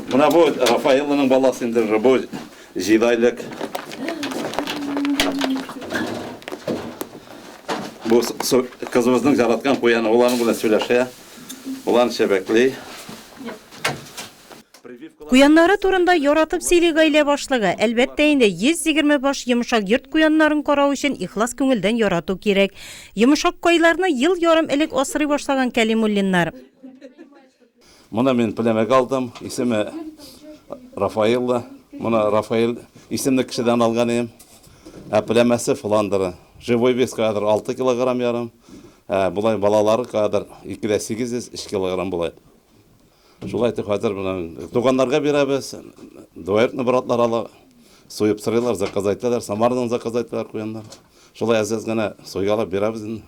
Менә бу Рафаэлланың баласы инде уже бу җидайлек. Бу кызыбызның жараткан куяны уларның белән сөйләшә. Улан чәбәкли. Куяннары турында яратып сөйли гаилә башлыгы. Әлбәттә инде 120 баш йомшак йорт куяннарын карау өчен ихлас күңелдән ярату кирәк. Йомшак кайларны ел ярым элек асрый башлаган Кәлимуллиннар. Моны мин пләмәгә алдым. Исеме Рафаэлла. Моны Рафаэль исемле кешедән алган идем. Ә пләмәсе Фландеры. Живой вес кадәр 6 килограмм ярым. Ә болай балалары кадәр 2 дә 800 3 килограмм болай. Шулай итеп хәзер моны туганнарга бирәбез. Дуэртны братлар ала. Суеп сырыйлар, заказ әйтәләр. Самардан заказ әйтәләр куяннар. Шулай әз-әз генә суйгалап бирәбез инде.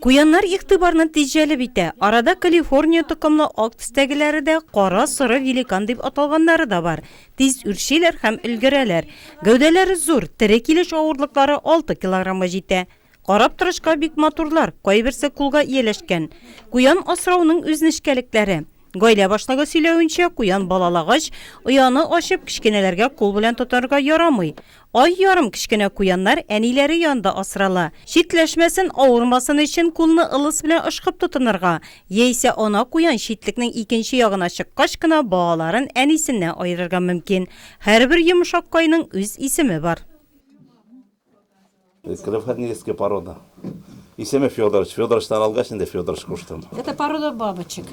Куяннар игътибарны тиз җәлеп итә. Арада Калифорния токымлы ак төстәгеләре дә, кара соры великан дип аталганнары да бар. Тиз үрчиләр һәм өлгерәләр. Гәүдәләре зур, тере килеш авырлыклары алты килограммга җитә. Карап торышка бик матурлар, кайберсе кулга ияләшкән. Куян асрауның үз нечкәлекләре. Гаилә баштагы сөйләвенчә, куян балалагач, ояны ачып, кечкенәләргә кул белән тотарга ярамый. Ай ярым кечкенә куяннар әниләре янында асрала. Читләшмәсен, авырмасын өчен кулны ылыс белән ышкып тотынырга, яисә ана куян читлекнең икенче ягына чыккач кына балаларын әнисеннән аерырга мөмкин. Һәрбер йомшак кайның үз исеме бар. Крылатническая порода. Исеме Федорович. Федоровичтан алгач инде Федорович куштым. Это порода бабочек.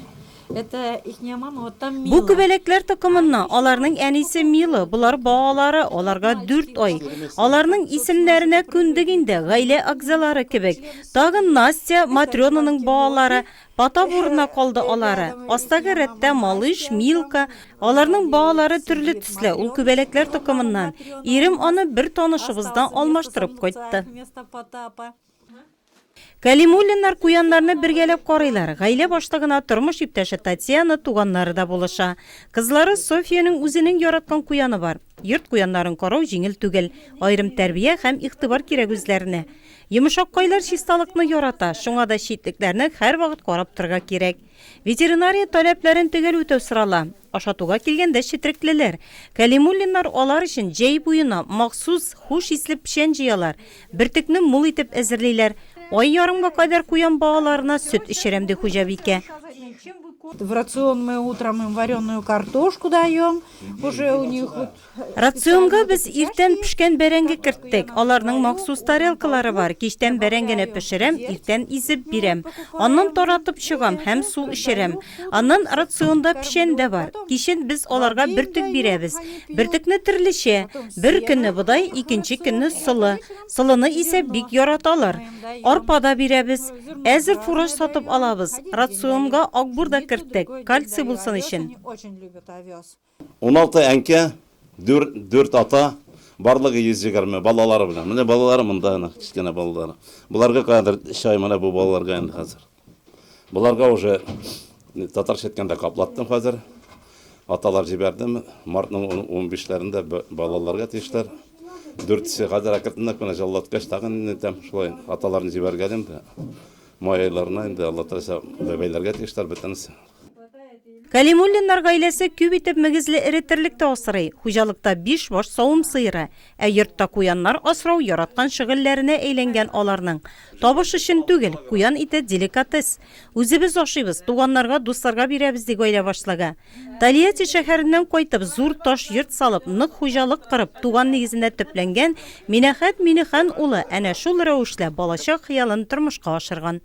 Это ихняя мама, вот там Бу Мила. күбәләкләр токымыннан, аларның әнисе Мила, болар балалары, аларга 4 ай. Аларның исемнәренә күндек инде, гаилә әгъзалары кебек. Тагын Настя, Матрёнаның балалары, Потап урынына калды алары. Астагы рәттә Малыш, Милка. Аларның балалары төрле төсле, ул күбәләкләр токымыннан. Ирем аны бер танышыбыздан алмаштырып кайтты. Кәлимуллиннар куяннарны бергәләп карыйлар. Гаилә башлыгына тормыш иптәше Татьяна, туганнары да булыша. Кызлары Софиянең үзенең яраткан куяны бар. Йорт куяннарын карау җиңел түгел. Аерым тәрбия һәм игътибар кирәк үзләренә. Йомышаккайлар чисталыкны ярата, шуңа да читлекләрне һәрвакыт карап торырга кирәк. Ветеринария таләпләрен төгәл үтәү сорала. Ашатуга килгәндә четреклеләр, кәлимуллиннар алар өчен җәй буена махсус хуш исле печән җыялар, бөртекне мул итеп әзерлиләр. Ай ярымга кадәр куян балаларына сөт эчерәм, ди хуҗабикә. В рацион мы утром им вареную картошку даем, уже у них Рационга без иртән пешкән бәрәңге керттек. Аларның махсус тарелкалары бар. Кичтән бәрәңгене пешерәм, иртән изеп бирәм. Аннан таратып чыгам һәм су эчерәм. Аннан рационда печән дә бар. Кичен без аларга бөртек бирәбез. Бөртекне төрлечә. Бер көнне бодай, икенче көнне солы. Солыны исә бик яраталар. Арпа да бирәбез. Әзер фураж сатып алабыз. Рационга акбур да керттек, кальций булсын өчен. Уналты әнкә, дүр, дүрт ата, барлыгы йөз егерме, балалары белән. Менә балалары монда әнә, кечкенә балалары. Боларга кадәр чай менә бу балаларга инде хәзер. Боларга уже татарча әйткәндә каплаттым хәзер. Аталар җибәрдем. Мартның ун- унбишләрендә б- балаларга тиешләр. Дүртесе хәзер әкренләп кенә җыллаткач, тагын инде тәм шулай аталарны җибәргәлим дә. Май айларына инде Алла теләсә бәбәйләргә тиешләр бөтенесе. Кәлимуллиннар гаиләсе күп итеп мөгезле эре терлек тә асрый. Хуҗалыкта биш баш савым сыеры, ә йортта куяннар асрау яраткан шөгыльләренә әйләнгән аларның. Табыш өчен түгел, куян ите деликатес. Үзебез ашыйбыз, туганнарга, дусларга бирәбез, ди гаилә башлыгы. Тольятти шәһәреннән кайтып, зур таш йорт салып, нык хуҗалык корып, туган нигезенә төпләнгән Минәхәт Миңнехан улы әнә шул рәвешле балачак хыялын тормышка ашырган.